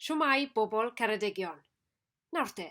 Shwmae, bobl Ceredigion! Nawr te,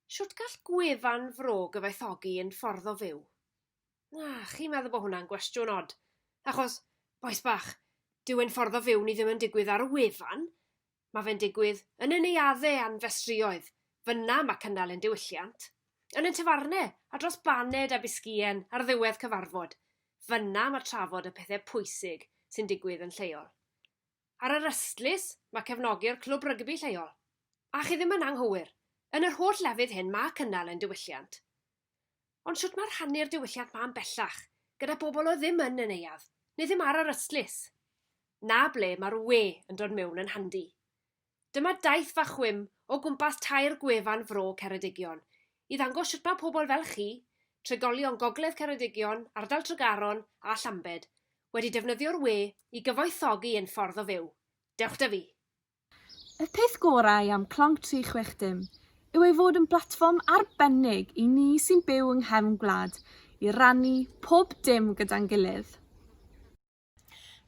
shwt gall gwefan fro gyfoethogi un ffordd o fyw? Na, chi'n meddwl bod hwnna'n gwestiwn od? Achos, bois bach, dyw ein ffordd o fyw ni ddim yn digwydd ar y wefan, mae fe'n digwydd yn y neuaddau a'n festrïoedd, fyna mae cynnal ein diwylliant, yn ein tafarnau a dros baned a bisgïen ar ddiwedd cyfarfod. Fan'na mae trafod y pethau pwysig sy'n digwydd yn lleol. Ar yr ystlys, mae cefnogi'r clwb rygbi lleol. A chi ddim yn anghywir, yn yr holl lefydd hyn mae cynnal ein diwylliant. Ond shwt mae rhannu'r diwylliant 'ma'n bellach gyda bobl oedd ddim yn y neuadd, neu ddim ar yr ystlys? 'Na ble mae'r 'we' yn dod mewn yn handi. Dyma daith fach chwim o gwmpas tair gwefan fro Ceredigion i ddangos sut mae pobl fel chi, trigolion Gogledd Ceredigion, ardal Tregaron a Llambed, wedi defnyddio'r we i gyfoethogi ein ffordd o fyw. Dewch 'da fi! Y peth gorau am Clonc 360 yw ei fod yn blatfform arbennig i ni sy'n byw yng nghefn gwlad i rannu pob dim gyda'n gilydd.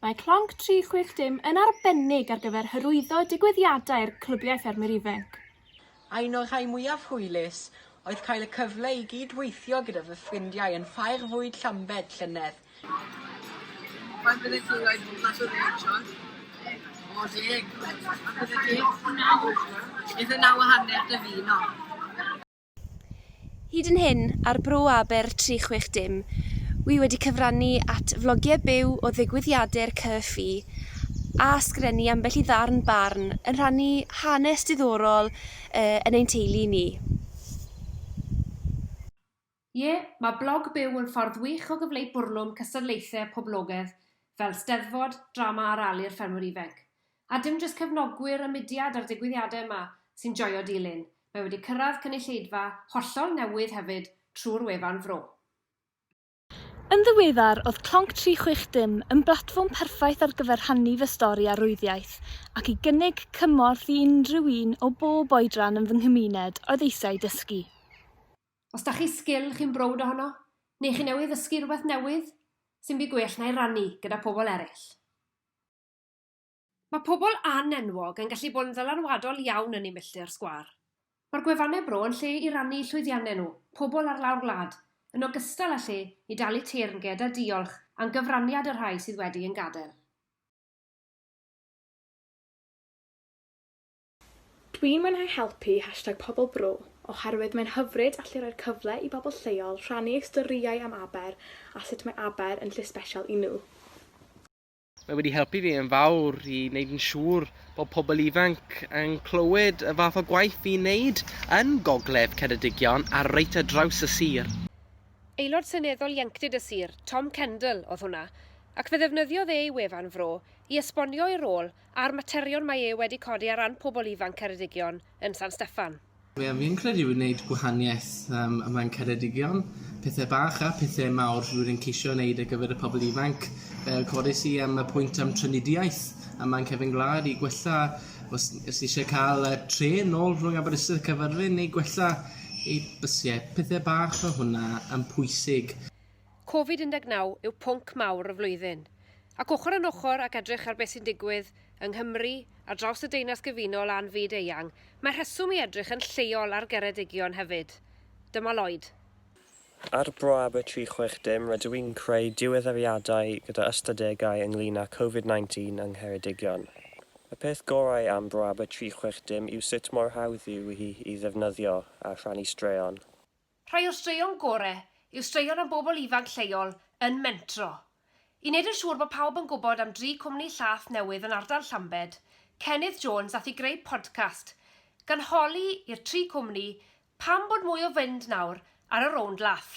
Mae Clonc 360 yn arbennig ar gyfer hyrwyddo digwyddiadau'r Clybiau Ffermwyr Ifainc. Un o'r rhai mwyaf hwylus oedd cael y cyfle i gyd-weithio gyda fy ffrindiau yn Ffair Fwyd Llambed llynedd. Faint byddet ti'n rhoi bob clas o ddeg siorts? O, deg. A byddet ti? Naw. Eitha naw a hanner dy fun o. Hyd yn hyn, ar Bro Aber 360, wi wedi cyfrannu at flogiau byw o ddigwyddiade'r CCFI a sgrennu ambell i ddarn barn yn rhannu hanes diddorol yn ein teulu ni. Ie, mae blog byw yn ffordd wych o gyfleu bwrlwm cystadlaethau poblogedd fel Steddfod, Drama ar Alu'r Ffermwr Ifainc. A dim jyst cefnogwyr y mudiad a'r digwyddiadau yma sy'n joio dilyn, mae wedi cyrraedd cynulleidfa hollol newydd hefyd trwy'r wefan Fro. Yn ddiweddar, oedd Clonc 360 yn blatfform perffaith ar gyfer rhannu fy stori arwyddiaeth ac i gynnig cymorth i unrhyw un o bob oedran yn fy nghymuned oedd eisiau dysgu. Os da chi sgil chi'n browd ohono, neu chi newydd ddysgu rhywbeth newydd, sy'm byd gwell na'i rannu gyda pobl eraill. Mae pobl an-enwog yn gallu bod yn ddylanwadol iawn yn eu milltir sgwâr. Mae'r gwefannau bro yn lle i rannu llwyddiannau nhw, pobl ar lawr gwlad, yn ogystal â lle i dalu teyrnged a diolch am gyfraniad y rhai sydd wedi ein gadael. Dwi'n mwynhau helpu hashtag Pobl Bro oherwydd mae'n hyfryd allu rhoi'r cyfle i bobl lleol rhannu eu storïau am Aber a sut mae Aber yn lle sbesial i nhw. Mae wedi helpu fi yn fawr i wneud yn siŵr bod pobl ifanc yn clywed y fath o gwaith fi'n wneud yn Gogledd Ceredigion a reit ar draws y sir. Aelod Seneddol Ieuenctid y Sir, Tom Kendall, oedd hwnna, ac fe ddefnyddiodd e ei wefan Fro i esbonio ei rôl a'r materion mae e wedi codi ar ran pobl ifanc Ceredigion yn San Steffan. Ie fi'n credu yw wneud gwahaniaeth yym ym Mlaen Ceredigion. Pethe bach a pethe mawr rwy'n yn ceisio wneud ar gyfer y pobl ifanc. Yy codes i yym y pwynt am trafnidiaeth ym Mlaen Cefyn Gwlad i gwella os os ni isie ca'l yy trên nôl rhwng Aberystwyth a Caerfyrddin neu gwella ei bysie. Pethe bach fel hwnna yn pwysig. Covid-19 yw pwnc mawr y flwyddyn, ac ochr yn ochr ac edrych ar beth sy'n digwydd yng Nghymru, ar draws y Deyrnas Gyfunol a'n fyd eang, mae rheswm i edrych yn lleol ar Geredigion hefyd. Dyma Lloyd. Ar Bro Aber 360 rydw i'n creu diweddariadau gyda ystadegau ynglŷn â Covid-19 yng Ngheredigion. Y peth gorau am Bro Aber 360 yw sut mor hawdd yw hi i ddefnyddio a rhannu straeon. Rhai o'r straeon gore yw straeon am bobl ifanc lleol yn mentro. I wneud yn siŵr bod pawb yn gwybod am dri cwmni llath newydd yn ardal Llambed, Cennydd Jones ath i greu podcast, gan holi i'r tri cwmni pam bod mwy o fynd nawr ar y rownd lath.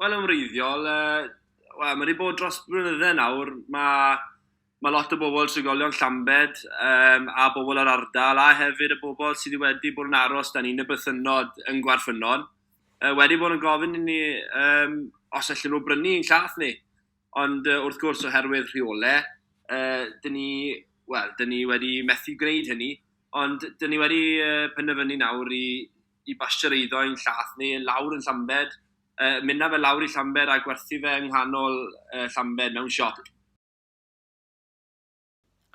Wel, yn wreiddiol, wel, mae wedi bod dros blynydde nawr, mae Mae lot o bobl, trigolion Llambed um, a bobl yr ardal, a hefyd y bobl sydd wedi bod yn aros dan un y bythynnod yn Gwarffynon, uh, wedi bod yn gofyn i ni um, os allan nhw brynu yn llath ni. Ond uh, wrth gwrs, oherwydd rheolau, uh, dyn ni, well, dyn ni wedi methu gwneud hynny, ond dyn ni wedi uh, penderfynu nawr i, i basio'r eiddo yn llath ni, yn lawr yn Llambed, uh, mynd fe lawr i Llambed a gwerthu fe yng nghanol uh, Llambed mewn siop.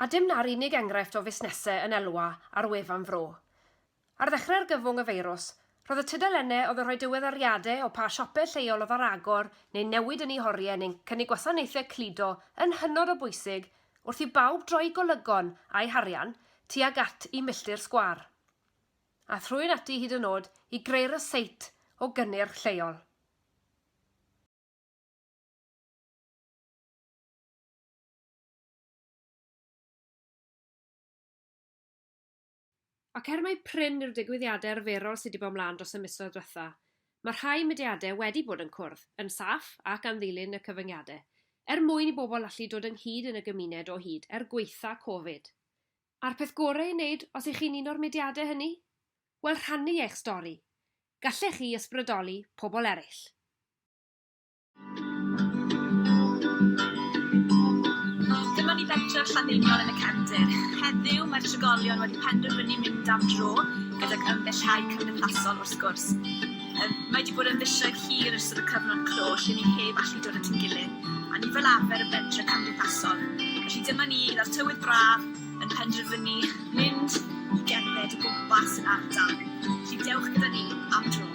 A dim 'na'r unig enghraifft o fusnesau yn elwa ar wefan Fro. Ar ddechrau argyfwng y feirws, roedd y tudalennau oedd yn rhoi diweddariadau o pa siopau lleol oedd ar agor neu newid yn eu horiau neu'n cynnig gwasanaethau cludo yn hynod o bwysig wrth i bawb droi golygon a'u harian tuag at y milltir sgwâr a thrwyn ati hyd yn oed i greu ryseit o gynnyrch lleol. Ac er mai prin yw'r digwyddiadau arferol sydd wedi bod ymlaen dros y misoedd diwetha', mae rhai mudiadau wedi bod yn cwrdd, yn saff ac am ddilyn y cyfyngiadau, er mwyn i bobl allu dod ynghyd yn y gymuned o hyd er gwaetha' Covid. A'r peth gorau ei wneud os y'ch chi'n un o'r mudiadau hynny? Wel, rhannu eich stori! Gallech chi ysbrydoli pobl eraill. Dyma ni bentref Llanddeiniol yn y cefndir. Heddiw, mae'r trigolion wedi penderfynu mynd am dro, gydag ymgellhau cymdeithasol wrth gwrs. Yym, mae wedi bod yn fisoedd hir yn ystod y cyfnod clo lle ni heb allu dod at ein gilydd, a ni fel arfer yn bentref cymdeithasol. Felly dyma ni, gyda'r tywydd braf, yn penderfynu mynd i gerdded o gwmpas yr ardal. Felly dewch gyda ni am dro.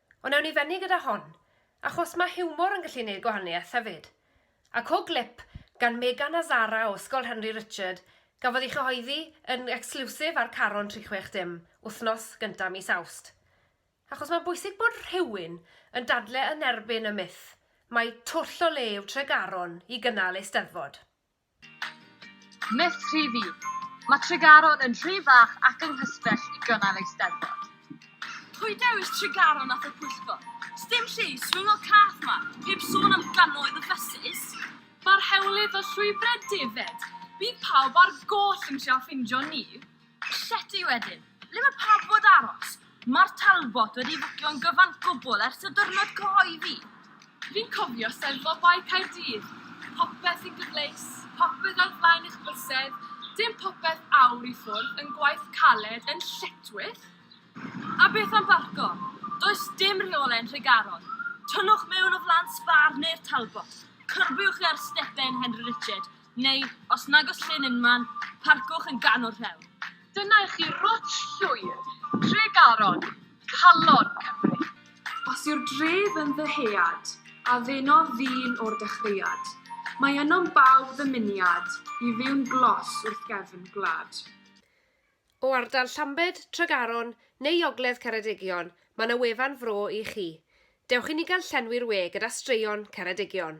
Ond ewn ni fynny gyda hon, achos mae hiwmor yn gallu neud gwahaniaeth hefyd. A co glip gan Megan a Zara o Ysgol Henry Richard gafodd ei chyhoeddi yn exclusive ar Caron 360 wthnos gynta mis Awst. Achos mae'n bwysig bod rhywun yn dadle yn erbyn y myth mai twll o le yw Tregaron i gynnal Eisteddfod. Myth rhif un, Mae Tregaron yn rhy fach ac yng nghysbell i gynnal Eisteddfod. Pwy dewis Tregaron at y pwyllgor? Sdim lle i swingo cath 'ma, heb sôn am gannoedd o fysus! Mae'r hewlydd o llwybrau defaid, bydd pawb ar goll yn trio ffindio ni! Llety wedyn. Ble mae pawb fod aros? Mae'r Talbot wedi fwcio'n gyfan gwbl ers y dyrnod cyhoeddi. Fi'n cofio Steddfod Bae Caerdydd. Popeth yn gyfleus, popeth ar flaen eich bysedd, dim popeth awr i ffwrdd yn gwaith caled yn lletchwith. A beth am barco? Does dim rheole'n Nhregaron. Tynnwch mewn o flan Spar neu'r Talbot, cyrbiwch i ar stepen Henry Richard, Neu, os nag oes llyn unman, parcwch yn ganol rhewl. Dyna i chi rwtsh llwyr Tregaron, calon Cymru. Os yw'r dref yn ddyhead, a ddenodd ddyn o'r dechreuad, mae ynom bawb ddymuniad i fyw'n glos wrth gefn gwlad. O ardal Llambed, Tregaron neu Ogledd Ceredigion, mae 'na wefan fro i chi. Dewch i ni gael llenwi'r we gyda straeon Ceredigion.